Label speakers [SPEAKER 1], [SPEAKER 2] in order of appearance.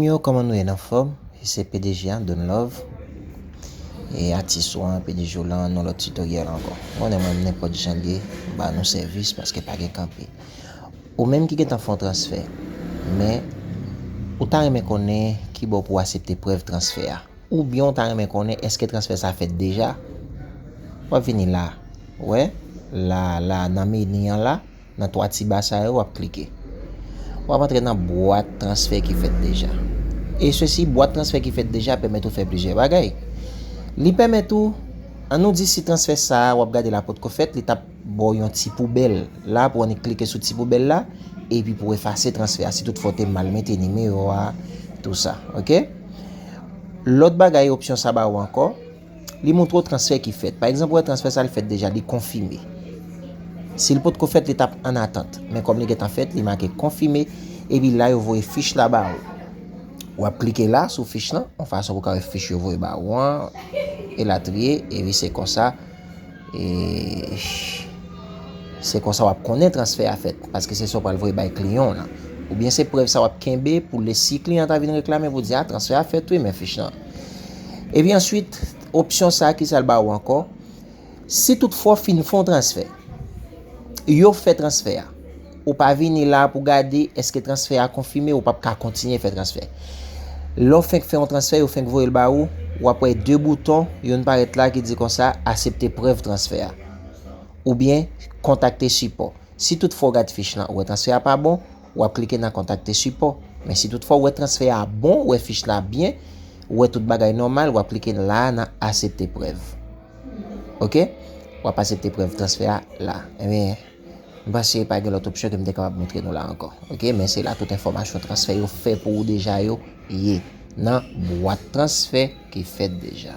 [SPEAKER 1] Zanmim yo koman nou ye n anfom e se pdg a Don love e atis ou an pdg w lan yon lot tutoriel anko ou konnen mwen nenpot jan liye m ba nou sevis paske pa gen kanpe ou menm ki gentan fon transfè men ou ta renmen konnen kibo pou asepte prèv transfè a oubyen ou ta renmen konnen eske transfè sa fèt deja wap vini la wè la la nan meni an la. Nan 3 ti ba sa yo wap klike. Wap antre nan bwat transfè ki fèt deja. E sesi bwat transfè ki fèt deja pèmèt ou fè plizyè bagay. Li pèmèt ou, an nou di si transfè sa wap gade la potko fèt, li tap ba w yon ti poubèl la pou annik klike sou ti poubèl la epi pou efase transfè a si tout fwa ou te mal mete nimewo a tou sa. Ok. Lòt bagay opsyon sa ba ou ankò. Li montre w transfè ki fèt. Pa egzanp, ou wè transfè sa li fèt deja, li konfime. Si li potko fèt, li t ap an atant. Men kòm li gentan fèt, li make konfime. Epi la yo voye fich la ba ou. Ou ap klike la sou fich lan. Yon fason pou ka wè fich yo voye ba ou an. E latriye. Epi se konsa. E se konsa w ap konnen transfè a fèt. Paske se sa w pral voye bay kliyan w lan. Oubyen se prèv sa w ap kenbe pou lè si kliyan ta vin reklame pou di a transfè a fèt wi men fich lan. Epi answit, opsyon sa ki sa l ba ou ankò, si tout fwa ou fin fè yon transfè, yo fè transfè a, ou pa vini la pou gade eske transfè a konfime, ou pap ka kontinye fè transfè. Lè ou fenk fè yon transfè, yo fenk voye l ba ou, w ap wè 2 bouton, youn parèt la ki di konsa, asepte prèv transfè a. Oubyen, kontakte sipò. Si tout fwa ou gad fich lan, ou wè transfè a pa bon, w ap klike nan kontakte sipò. Men si tout fwa ou wè transfè a bon, ou wè fich la byen, ou wè tout bagay nòmal, w ap klike la a nan asepte prèv. Ok, w ap asepte prèv transfè a la. Ebyen, m panse pa gen lòt opsyon ke m te kapab montre nou la ankò. Ok, men se la tout enfòmasyon transfè yo fè pou ou deja yo ye nan bwat transfè ki fèt deja.